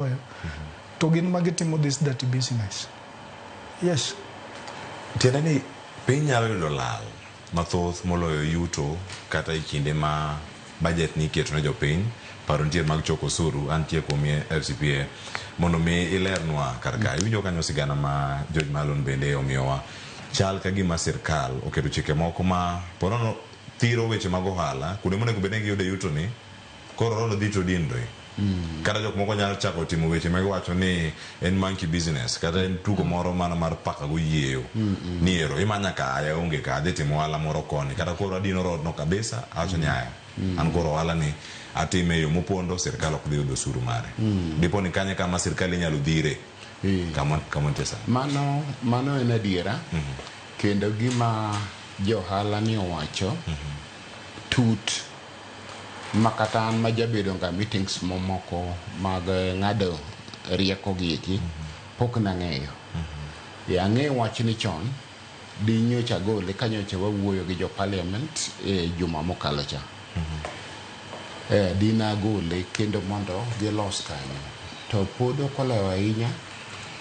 Oyo. To gin ma gitimo this dirty business. Yes. tiende ni piny nyalo yudo lal mathoth moloyo yuto kata e kinde ma bajet ni iketo ne jopiny paro nitie mag choko osuru antie kuom ye- fcpa mondo mi ilernwa kar ka iwinjo kanyo sigana ma george malon bende omiyowa chal ka gima sirkal oketo chike moko ma porono thiro weche mag ohala kuonde monego bed ni giyude yutoni Koro road dhi to dinre. Kata jok moko nyalo chako timo weche ma giwacho ni en monkey business kata en tugo moro mana mar paka goyieyo. Ni ero imanya ka aya onge ka adhi timo ohala moro koni kata koro adino road no kabisa awacho ni aya an koro ohala ni atime e yo mopondo sirkal ok dhi yudo osuru mare. Dipo ni kanye kama sirkal inyalo dhire. Eh. Kama kama nitie sani. Mano, mano en adiera kendo gima johala ni owacho tut ma kata an ma jabedo ga meetings momoko mag ng'ado rieko gi eki pok nang'eyo. Yeah, ang'eyo wachni chon di nyocha agole ka nyocha wawuoyo gi jo parliament e juma mokalo cha. Eh, di nagole kendo mondo gilos kanyo. To pod ok olewo ahinya.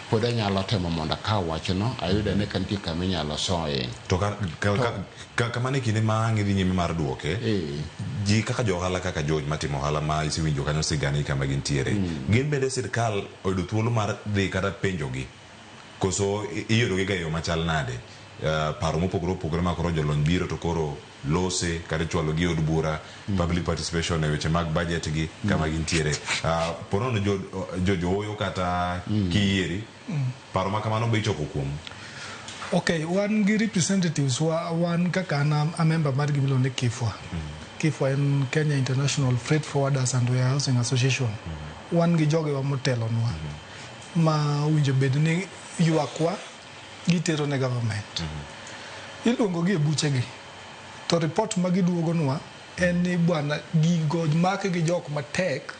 pod anyalo temo mondo akaw wachno ayud ane ka nitie kama inyalo soye to ka- ka- ka- ka- kamano e kinde ma ang' idhi nyime mar dwoke Eh. ji kaka jo ohala kaka joj matimo ohala ma isewinjo kanyo sigani kama gintiere gin bende sirkal oyudo thuolo mar dhi kata penjogi koso i- iyudogiga e yo machal nade Eh, paro mopogore opogore ma koro jolony biro to koro lose kata ichwalo gi od bura mm. public participation e weche mag budget gi mm. kama gintiere uh, ah, ponono jo, jo jooyo kata mm. kiyieri mm. paro ma kamano be ichoko kuom okay wan gi representatives wa, wan kaka an a member mar gimilo ni kifwa mm. kifwa en kenya international freight forwarders and warehousing association mm. wan gi jogewa motelonwa mm. ma winjo bed ni ywakwa gitero ne government mm-hmm. iluongo gi e buche gi to report ma giduogo nwa en ni bwana gigo make gi jok matek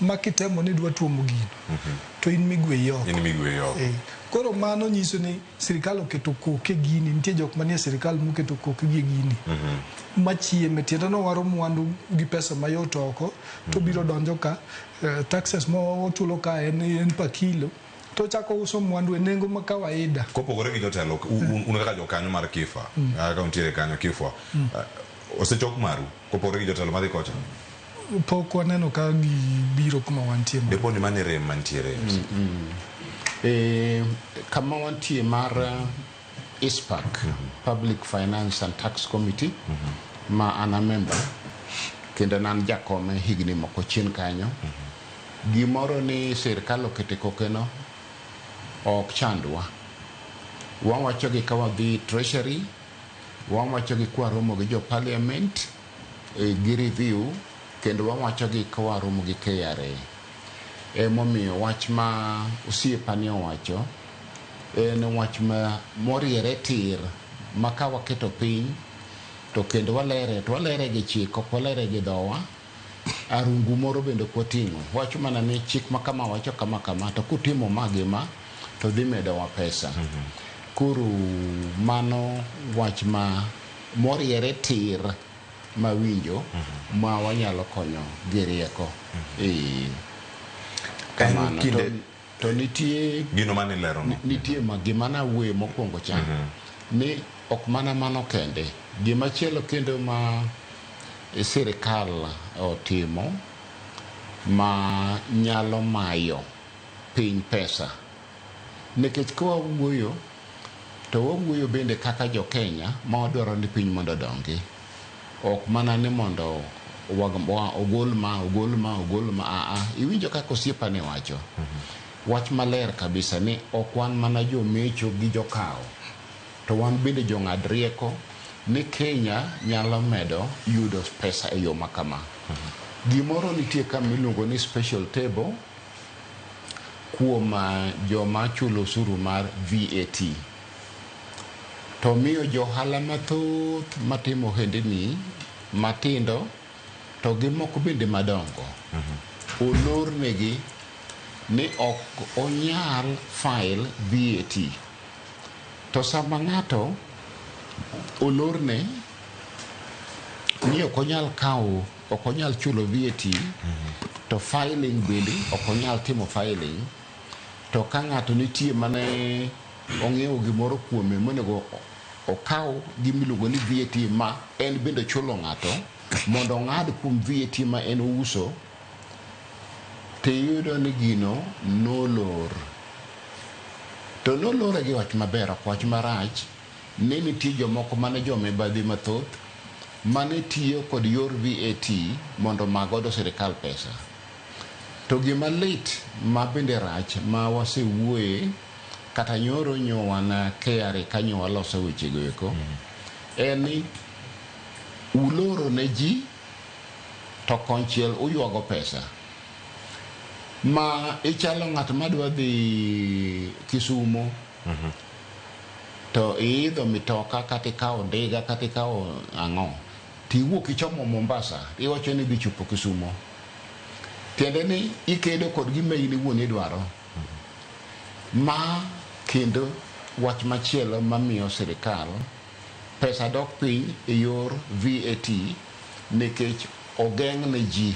ma kitemo ni dwa tuomo gino mm-hmm. to in migwe yoko in migwe yoko eh, koro mano nyiso ni sirikal oketo koke gini nitie jok manie sirikal moketo koke gi gini mm-hmm. machieme tiende no waro mwandu gi pesa mayot oko to biro donjo ka eh, taxes mo ochulo ka en en pa kilo to ochako uso mwandu e nengo ma kawaida. Kopogore gi jotelo, un, un kaka jokanyo mar KIFA, ah, ka untiere kanyo KIFWA, ah, osechok maru kopogore gi jotelo madhi kocha? Pok waneno ka gibiro kuma wantie ma. Depo ni mano e rem mantiere. Eh, kama wantie mar eh, ISPAC, Public Finance and Tax Committee, ma an a member, kendo ne an jakome higni moko chien kanyo. Gimoro ni sirkal okete kokeno ok chandwa. Wawachogi ka wadhi treasury, wawachogi ka waromo gi jo parliament gi review kendo wawachogi ka waromo gi KRA. Emomiyo wach ma osiepani owacho en wach ma moriere tir ma ka waketo piny to kendo walere to walere gi chik ok walere gi dhowa. arungu moro bende kwating'o. Wacho mana ni chik ma kama wacho kama kama to kutimo ma gi ma to dhi medowa pesa. Koro mano wach ma moriere tir ma winjo ma wanyalo konyo gi rieko. Ee, En kamano. To- kinde To nitie gino mane ilero no. Nitie ma gima na wuoye mokwongo cha. Mm -hmm. Ni ok mana mano kende. Gima chielo kendo ma sirikal otimo ma nyalo mayo piny pesa. Nikech kwa wuoyo to wawuoyo bende kaka jo Kenya ma wadwaro ni piny mondo odongi. ok mana ni mondo ogol ma ogol ma ogol ma aa iwinjo kaka osiepa ne wacho wach maler kabisa ni ok wan mana jomecho gi jokawo to wan bende jong'ad rieko ni Kenya nyalo medo yudo pesa e yo ma kama gimoro nitie ka miluongo ni special table kuom ah, joma chulo osuru mar VAT to miyo jo ohala mathoth matimo ohendini matindo to gi moko bende madongo olornegi ni ok onyal file VAT. To sama ng'ato olorne ni ok onyal kawo, ok onyal chulo VAT to filing bende ok onyal timo filing to ka ng'ato nitie mane ong'iewo gimoro kuome monego okaw gimiluongo ni VAT ma en bende chulo ng'ato mondo ong'ad kuom VAT ma en ouso to iyudo ni gino nolor to nolore gi wach maber ok wach marach ni nitie jomoko mane jomibadhi mathoth mane tiyo kod yor VAT mondo omak godo sirikal pesa. To gima lit ma bende rach ma wasewuoye kata nyoro nyo wan KRA ka nyo waloso wechego eko en ni uloro ne ji to konchiel uywago pesa ma ichalo ng'at ma dwa dhi Kisumo to iidho mitoka kata ikawo ndiga kata ikawo ang'o tiwuok ichomo Mombasa iwacho ni idhi chopo Kisumo. tiende ni ikedo kod gima in iwuon idwaro. Ma kendo wach machielo mamiyo sirikal pesa dok piny e yor VAT nikech ogeng' ne ji.